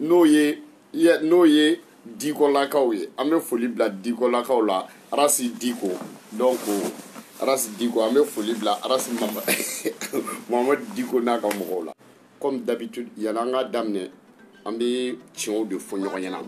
n'o ye n'o ye dikɔlakaw ye an bɛ foli bila dikɔlakaw la arasi diko donc arasi diko an bɛ foli bila arasi mamadu diko n'a ka mɔgɔw la comme d'habitude yala an ka daminɛ an bɛ tiɲɛw de fɔ ɲɔgɔn ɲɛna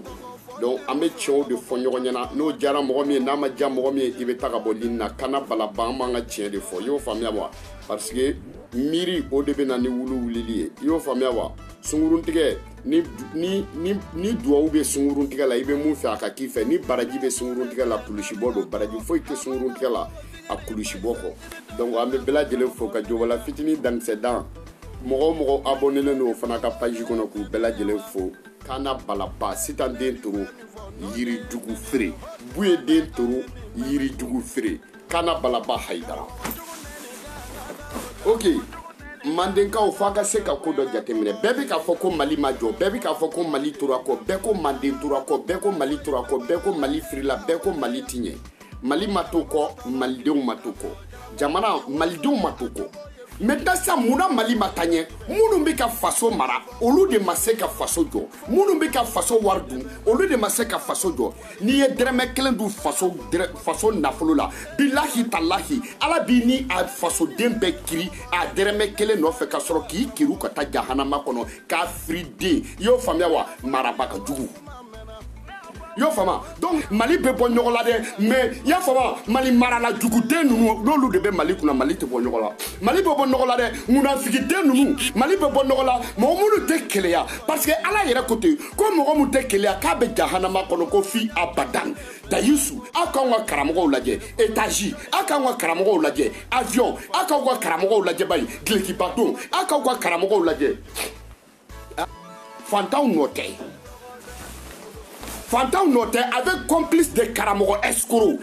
donc an bɛ tiɲɛw de fɔ ɲɔgɔn ɲɛna n'o diyara mɔgɔ min ye n'a ma diya mɔgɔ min ye i bɛ taa ka bɔ ligne na kana balaba an b'an ka tiɲɛ de fɔ i y'o faamuya wa parce que miiri o de bɛ na ni wulu wulili ye i y'o faamuya wa sunguruntigɛ ni duwawu bɛ sunguruntigɛ la i bɛ mun fɛ a ka k'i fɛ ni baraji bɛ sunguruntigɛ la kulusibɔ don baraji foyi tɛ sunguruntigɛ la a kulusibɔ kɔ donc an bɛ bɛɛ lajɛlen fo ka jɔbala fitinin dankisɛ dan mɔgɔ o mɔgɔ abonnelen don o fana ka page kɔnɔ k'u bɛɛ lajɛlen fo kana balaba sitan den toro yirijugu feere buye den toro yirijugu feere kana balaba hayidara ok mandenkaw f'a ka se ka ko dɔ jateminɛ bɛɛ bɛ k'a fɔ ko mali ma jɔ bɛɛ bɛ k'a fɔ ko mali tora kɔ bɛɛ ko manden tora kɔ bɛɛ ko mali tora kɔ bɛɛ ko mali firila bɛɛ ko mali ti ɲɛ mali ma to kɔ malidenw ma to kɔ jamana malidenw ma to kɔ maintenant sa mun na mali ma taa ɲɛ minnu bɛ ka faso mara olu de ma se ka faso jɔ minnu bɛ ka faso wari dun olu de ma se ka faso jɔ n'i ye dɛrɛmɛ kelen dun faso nafolo la bilahi talahi ala b'i ni a fasoden bɛɛ kiri a dɛrɛmɛ kelen nɔfɛ ka sɔrɔ k'i kiri ka taa jahanama kɔnɔ k'a firi den i y'o faamuya wa marabaga jugu y'o faamu donc mali bɛ bɔ nɔgɔ la dɛ mais y'a faamu mali marala juguden ninnu n'olu de bɛ mali kunna mali tɛ bɔ nɔgɔ la mali bɛ bɔ nɔgɔ la dɛ munafigiden ninnu mali bɛ bɔ nɔgɔ la mɔgɔ minnu tɛ keleya parce que ala yɛrɛ ko ten ko mɔgɔ min tɛ keleya k'a bɛ jahanama kɔnɔ ko fi abadan dayisu aw k'anw ka karamɔgɔw lajɛ étage aw k'anw ka karamɔgɔw lajɛ avion aw k'aw ka karamɔgɔw lajɛ bayi dulokiba don aw k'aw ka karamɔgɔw lajɛ fantanw nɔ tɛ fantanw nɔ tɛ avec complice de karamɔgɔ escroc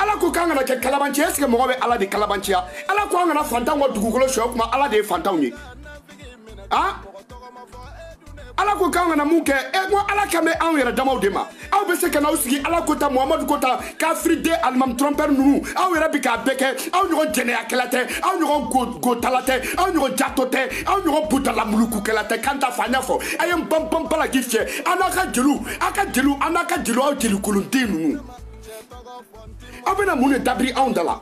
ala ko k'an kana kɛ kalabanci ye est ce que mɔgɔ bɛ ala de kalabanciya ala ko an kana fantanw ka dugukolo sonya kuma ala de ye fantanw ye a ala ko k'an kana mun kɛ e ko ala kan bɛ anw yɛrɛ damaw de ma aw bɛ se ka n'aw sigi ala ko ta muhamadu ko ta kafiriden alimami trompeur ninnu aw yɛrɛ bɛ k'a bɛɛ kɛ aw ɲɔgɔn jɛnɛyakɛla tɛ aw ɲɔgɔn gotala tɛ aw ɲɔgɔn jato tɛ aw ɲɔgɔn butalamulukukɛla tɛ kan ta fa n y'a fɔ a ye n banbanba la k'i fiyɛ an n'aw ka jeliw aw ka jeliw an n'a ka jeliw aw jelikolonden ninnu aw bɛna mun de dabiri anw da la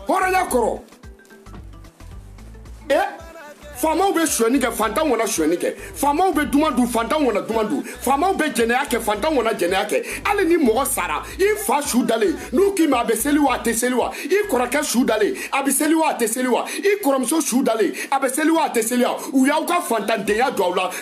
hɔrɔnya kɔrɔ e faamaw bɛ sonyani kɛ fantanw kana sonyani kɛ faamaw bɛ duman dun fantanw kana duman dun faamaw bɛ jɛnɛya kɛ fantanw kana jɛnɛya kɛ hali ni mɔgɔ sara i fa su dalen n'u k'i ma a bɛ seli wa a tɛ seli wa i kɔrɔkɛ su dalen a bɛ seli wa a tɛ seli wa i kɔrɔmuso su dalen a bɛ seli wa a tɛ seli wa u y'aw ka fantandenya don aw la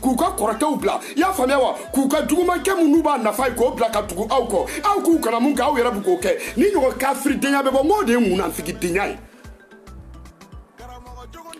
k'u ka kɔrɔkɛw bila i y'a faamuya wa k'u ka jugumankɛ minnu b'a nafa ye k'o bila ka tugu aw kɔ aw k'u kana mun kɛ aw yɛrɛ bɛ k'o kɛ ni ɲɔgɔn kafiridenya bɛ bɔ n k'o de ye munanfigidenya ye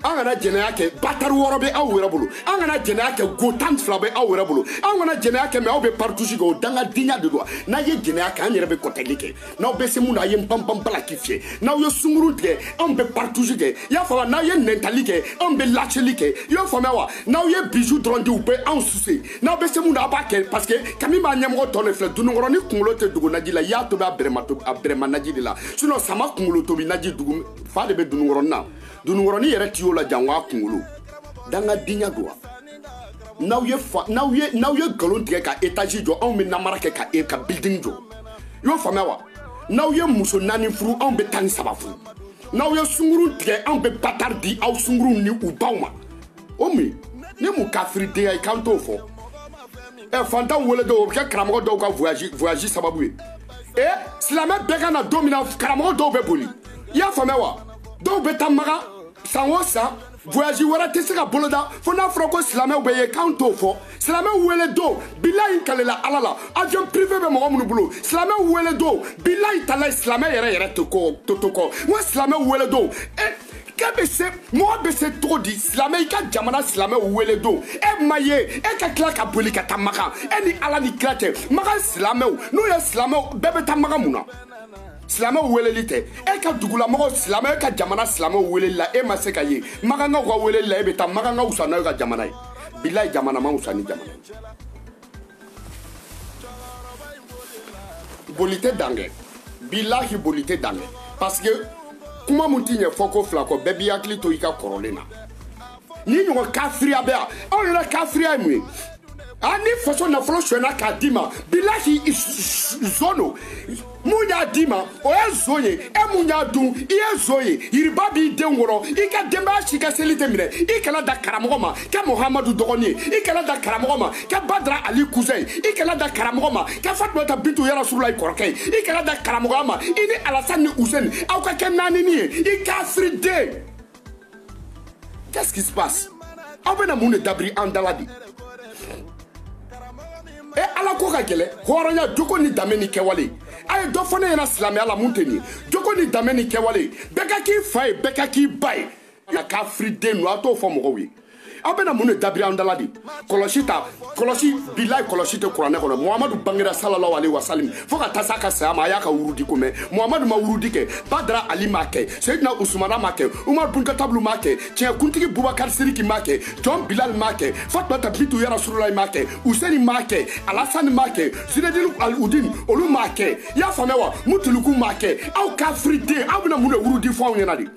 an kana jɛnɛya kɛ batari wɔɔrɔ bɛ aw yɛrɛ bolo an kana jɛnɛya kɛ go tan fila bɛ aw yɛrɛ bolo an kana jɛnɛya kɛ mɛ aw bɛ partouze kɛ o dangadenya de don n'a ye jɛnɛya kɛ an yɛrɛ bɛ kɔtɛli kɛ n'aw bɛ se mun na a ye n panpan bala k'i fiyɛ n'aw ye sungurun tigɛ anw bɛ partouze kɛ i y'a faamuya n'aw ye nɛntali kɛ anw bɛ laceli kɛ i y'o faamuya wa n'aw ye bisou dɔrɔn di u bɛ anw suce n'aw bɛ se mun na a b'a kɛ parce que kami b'a ɲɛmɔgɔ tɔn de filɛ dununkɔrɔni kunkolo tɛ dogo naji la i y'a tobi a bɛrɛma tobi a bɛrɛma naji de la sinon sama kunkolo tobi naji dugu fa de bɛ dununkɔrɔni na dununkɔrɔni yɛrɛ ti y'o la jango a kunkolo dangadenya don wa n'aw ye n'aw ye n'aw ye nkalon tigɛ ka étage jɔ anw bɛ namara kɛ ka e ka building jɔ i y'o faamuya wa n'aw ye muso naani furu anw bɛ tan ni saba furu n'aw ye sungurun tigɛ anw bɛ batari di aw sungurunw ni u baw ma o min ni mun kafiridenya ye k'an t'o fɔ ɛ fantanw wele don o bɛ kɛ karamɔgɔ dɔw ka voyage voyage sababu ye e silamɛ bɛɛ ka na don min na karamɔgɔ dɔw bɛ boli i y'a faamuya wa dɔw bɛ taa makan san o san voyage wɛrɛ tɛ se ka boloda fo n'a fɔra ko silamɛw bɛ ye k'an t'o fɔ silamɛw wele don bilayi kalela ala la avion privé bɛ mɔgɔ minnu bolo silamɛw wele don bilayi talayi silamɛ yɛrɛ yɛrɛ to kɔ to to kɔ n ko silamɛw wele don e eh, k'e bɛ se mɔgɔ bɛ se cogo di silamɛ i ka jamana silamɛw wele don e ma ye e ka tila ka boli ka taa makan e ni ala ni kira cɛ makan silamɛw n'u ye silamɛw bɛɛ bɛ taa makan mun na silamɛw weleli tɛ e ka dugulamɔgɔ silamɛ e ka jamana silamɛw weleli la e ma se ka ye makankaw ka weleli la e bɛ taa makankaw wusa n'aw ka jamana ye bilayi jamana ma wusa ni jamana ye boli tɛ dan kɛ bilahi boli tɛ dan kɛ parce que kuma mun ti ɲɛ fɔ ko fila kɔ bɛɛ b'i hakili to i ka kɔrɔlen na ni ɲɔgɔn kafiriya bɛ yan anw yɛrɛ kafiriya ye mun ye a ni faso nafolo sonyɛna k'a d'i ma bilahi zon don mun y'a d'i ma o ye zon ye e mun y'a dun i ye zon ye yiriba b'i den wɔrɔ i ka denbaya si ka seli tɛ minɛ i kana da karamɔgɔ ma kɛ muhamadu dɔgɔnin ye i kana da karamɔgɔ ma kɛ badara ali cousin ye i kana da karamɔgɔ ma kɛ fatumata bintu yarasulayi kɔrɔkɛ ye i kana da karamɔgɔya ma i ni alasani ni useni aw ka kɛ naanini ye i kafiriden Qu'est-ce qui se passe aw bɛna mun de dabiri an dala de e ala ko ka gɛlɛ hɔrɔnya jogo ni danbe ni kɛwale a ye dɔ fɔ ne ɲɛna silamɛya la mun tɛ nin ye jogo ni danbe ni kɛwale bɛɛ ka k'i fa ye bɛɛ ka k'i ba ye nka kafiriden don a t'o fɔ mɔgɔw ye aw bɛna mun de dabiri an dala de kɔlɔsi ta kɔlɔsi bilayi kɔlɔsi tɛ kuranɛ kɔnɔ muhamadu bangera salalahu aleyi wasalim fo ka taa s'a ka saya ma a y'a ka wurudi ko mɛn muhamadu ma wurudi kɛ badara ali m'a kɛ seyidina usumana m'a kɛ umar bun katabu olu m'a kɛ tiɲɛ kuntigi bubakari siriki m'a kɛ jɔn bilal m'a kɛ fatumata bintu ya rasululayi m'a kɛ useni m'a kɛ alasani m'a kɛ zinedini aludin olu m'a kɛ i y'a faamuya wa mutuluku m'a kɛ aw kafiriden aw bɛna mun de wurudi fɔ anw ɲɛna de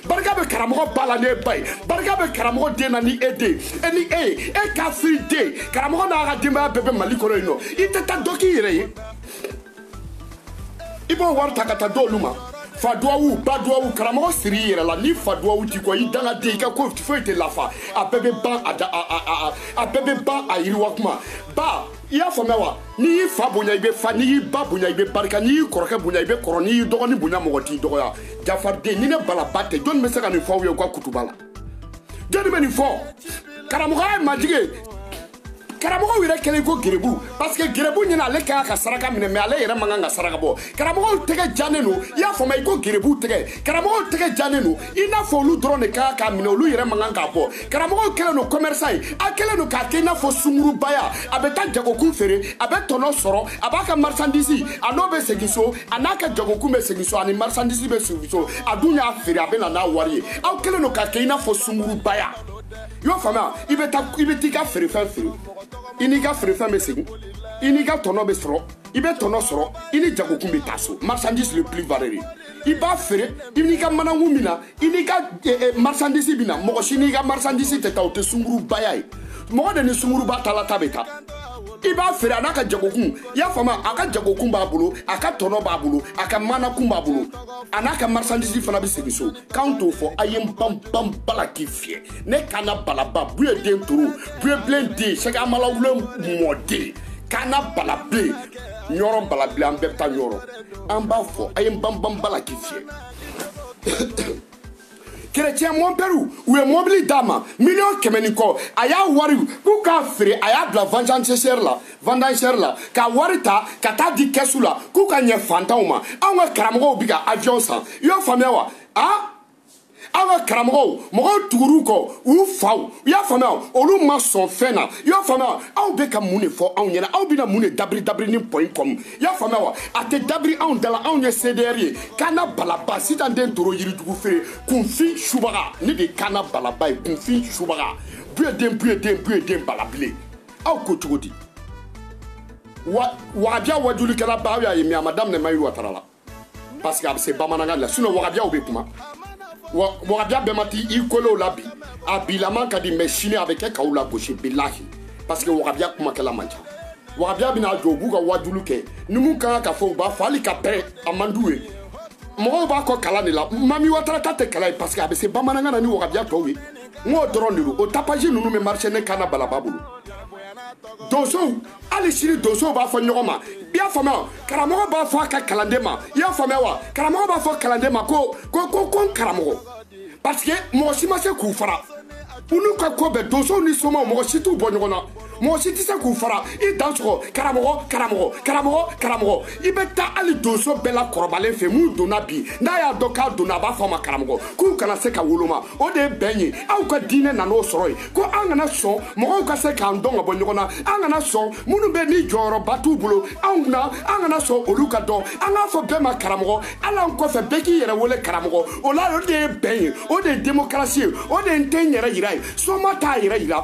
barika bɛ karamɔgɔ ba la n'e ba ye barika bɛ karamɔgɔ den na ni e den e ni e ye e kafiriden karamɔgɔ n'a ka denbaya bɛɛ bɛ mali kɔnɔ yen nɔ i tɛ taa dɔ k'i yɛrɛ ye i b'o wari ta ka taa d'olu ma fa duwawu ba duwawu karamɔgɔ siri i yɛrɛ la ni fa duwawu t'i kɔ i dangaden i ka ko foyi tɛ lafa a bɛɛ bɛ ban a da a a a a bɛɛ bɛ ban a yiriwa kuma ba i y'a faamuya wa n'i y'i fa bonya i bɛ fa n'i y'i ba bonya i bɛ barika n'i y'i kɔrɔkɛ bonya i bɛ kɔrɔ n'i y'i dɔgɔnin bonya mɔgɔ t'i dɔgɔya jafariden ni ne balaba tɛ jɔni bɛ se ka nin fɔ aw ye u ka kutuba la jɔni bɛ nin fɔ karamɔgɔya ye majigi ye karamɔgɔw yɛrɛ kɛlen ko gerebu parce que gerebu ɲɛna ale ka kan ka saraka minɛ mais ale yɛrɛ man kan ka saraka bɔ karamɔgɔw tɛgɛ janen don i y'a faamuya i ko gerebu tɛgɛ karamɔgɔw tɛgɛ janen don i n'a fɔ olu dɔrɔn de ka kan k'a minɛ olu yɛrɛ man kan k'a bɔ karamɔgɔw kɛlen don commerçant ye a kɛlen don k'a kɛ i n'a fɔ sungurubaya a bɛ taa jagokun feere a bɛ tɔnɔ sɔrɔ a b'a ka marchandise a n'o bɛ segin so a n'a ka jagokun bɛ segin so ani marchandise bɛ segin so a dun y'a feere a bɛ na n'a wari ye aw kɛlen don k'a kɛ i n'a fɔ sungurubaya i y'o faamuya i bɛ taa i bɛ t'i ka feerefɛn feere i n'i ka feerefɛn bɛ segin i n'i ka tɔnɔ bɛ sɔrɔ i bɛ tɔnɔ sɔrɔ i ni jagokun bɛ taa so marchandise le plus valeur i b'a feere i n'i ka manakun bɛ na i n'i ka eh, eh, marsandisi bɛ na mɔgɔ si n'i ka marsandisi tɛ taa o tɛ sungurubaya ye mɔgɔ de ni sunguruba taala ta bɛ taa i b'a feere a n'a ka jagokun i y'a faamu a ka jagokun b'a bolo a ka tɔnɔ b'a bolo a ka manakun b'a bolo a n'a ka marsandisi fana bɛ segin so k'anw t'o fɔ a ye n banban bala k'i fiyɛ ne kana balaba buye den toro buye bilen den sɛgɛ amalawulen mɔden kana balabilen ɲɔrɔ balabilen an bɛɛ bɛ taa ɲɔrɔ an b'a fɔ a ye n banban bala k'i fiyɛ kerecɛn mɔnpɛriw u ye mɔbili d'a ma miliyɔn kɛmɛ ni kɔ a y'a wari k'u k'a feere a y'a bila vandansɛri la vandansɛri la k'a wari ta ka t'a di kɛsu la k'u ka ɲɛ fantanw ma anw ka karamɔgɔw bi ka aviyɔn san i y'o faamuya wa a aw ka karamɔgɔw mɔgɔw tugur'u kɔ u faw i y'a faamuya olu ma sɔn fɛn na i y'a faamuya aw bɛ ka mun de fɔ anw ɲɛna aw bɛna mun de dabiri dabiri ni point com i y'a faamuya wa a tɛ dabiri anw dala anw ye cdr ye kana balaba sitan den toro yirijugu feere kunfin subaga ne de ye kana balaba ye kunfin subaga buye den buye den buye den balabilen aw ko cogo di wagabiya wajulikɛla ba aw y'a ye mais a ma daminɛ mayi watara la parce que a bɛ se bamanankan la sinon wahabiyaw bɛ kuma wahabiya bɛɛ ma ti i kolew la bi a bilaman ka di mais sini a bɛ kɛ k'aw lagosi bilahi parce que wahabiya kumakɛla man ca wahabiya bɛna jɔ u b'u ka wajulu kɛ ni mun ka kan ka fɔ u b'a fɔ hali ka pɛrɛn a man d'u ye mɔgɔw b'a kɔ kalan de la mahi watara ta tɛ kalan ye parce que a bɛ se bamanankan na ni wahabiya tɔw ye n k'o dɔrɔn de don o tapage ninnu bɛ marché ne kana balaba bolo donsow hali sini donsow b'a fɔ ɲɔgɔn ma i y'a faamuya karamɔgɔ b'a fɔ a ka kalanden ma i y'a faamuya wa karamɔgɔ b'a fɔ kalanden ma ko ko n karamɔgɔ parce que mɔgɔ si ma se k'u fara u n'u ka ko bɛɛ donsow ni somaw mɔgɔ si t'u bɔ ɲɔgɔn na mɔgɔ si tɛ se k'u fara i dansɔgɔ karamɔgɔ karamɔgɔ karamɔgɔ karamɔgɔ i bɛ taa hali donso bɛɛ la kɔrɔbalen fɛ mun donna bi n'a y'a dɔn k'a donna a b'a fɔ a ma karamɔgɔ k'u kana se ka woloma o de ye bɛn ye aw ka diinɛ nan'o sɔrɔ ye ko an kana sɔn mɔgɔw ka se k'an dɔn ka bɔ ɲɔgɔn na an kana sɔn minnu bɛ ni jɔyɔrɔba t'u bolo anw na an kana sɔn olu ka dɔn an k'a fɔ bɛɛ ma karamɔgɔ hali an kɔfɛ bɛɛ k'i yɛrɛ wele karamɔgɔ o la o de ye bɛn ye o de ye demokarasi ye o de ye n tɛ n yɛrɛ yira ye soma t'a yɛrɛ yira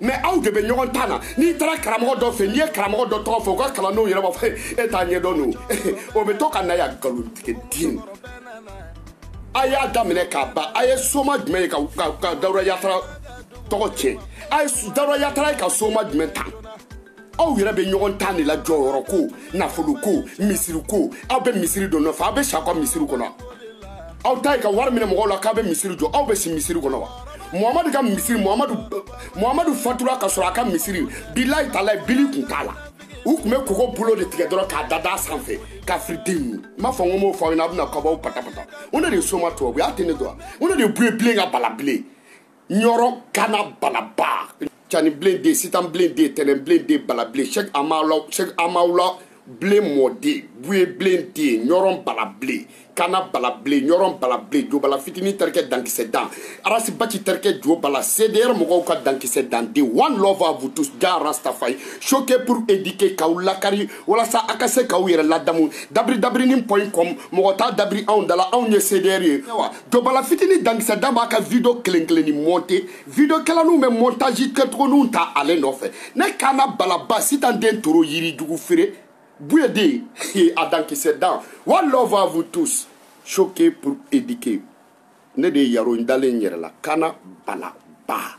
mais aw de bɛ ɲɔgɔn tan na n'i taara karamɔgɔ dɔ fɛ n'i ye karamɔgɔ dɔ tɔgɔ fɔ u ka kalandenw yɛrɛ b'a fɔ e t'a ɲɛdɔn don o bɛ to ka na yan nkalontigɛ den a y'a daminɛ k'a ban a ye soma jumɛn ye ka dawuda yatara tɔgɔ tiɲɛ a ye dawuda yatara ye ka soma jumɛn tan aw yɛrɛ bɛ ɲɔgɔn tan de la jɔyɔrɔ ko nafolo ko misiri ko aw bɛ misiri dɔ nɔfɛ aw bɛ si aw ka misiri kɔnɔ aw ta ye ka wari minɛ mɔgɔw la k'aw bɛ misiri jɔ aw bɛ si misiri kɔnɔ wa muhamadu ka misiri muhamadu muhamadu fatura ka sɔrɔ a ka misiri bilahi talahi bili kun t'a la u tun bɛ koko bolo de tigɛ dɔrɔn k'a dada sanfɛ kafiriden ninnu n b'a fɔ n ko m'o fɔ aw ɲɛna aw bɛna kabaw patapata o ne de ye soma tubabu y'a tɛ ne dɔn wa o ne de ye buye bilen ka bala bilen ɲɔrɔ kana balaba cani bilen den sitan bilen den tɛnɛn bilen den bala bilen sɛk amawla sɛk amawla bilen mɔden buye bilen den ɲɔrɔ bala bilen kana bala bilen ɲɔrɔ bala bilen jo bala fitini terikɛ dankisɛ dan arasi baci terikɛ jo bala cdr mɔgɔw ka dankisɛ dan de one love à vous tous jah rastafari choquer pour éduquer k'aw lakari walasa a ka se k'aw yɛrɛ ladamu dabiri dabirinin point com mɔgɔ t'a dabiri anw dala anw ye cdr ye jo bala fitini dankisɛ dan b'a ka video kelen kelen ni monter video kɛlaninw bɛ montage kɛcogoninw ta ale nɔfɛ ne kana balaba sitan den toro yiri jugu feere buye den a dankisɛ dan one love à vous tous choquer pour éduquer ne de ye yaro n dalen n yɛrɛ la kana balaba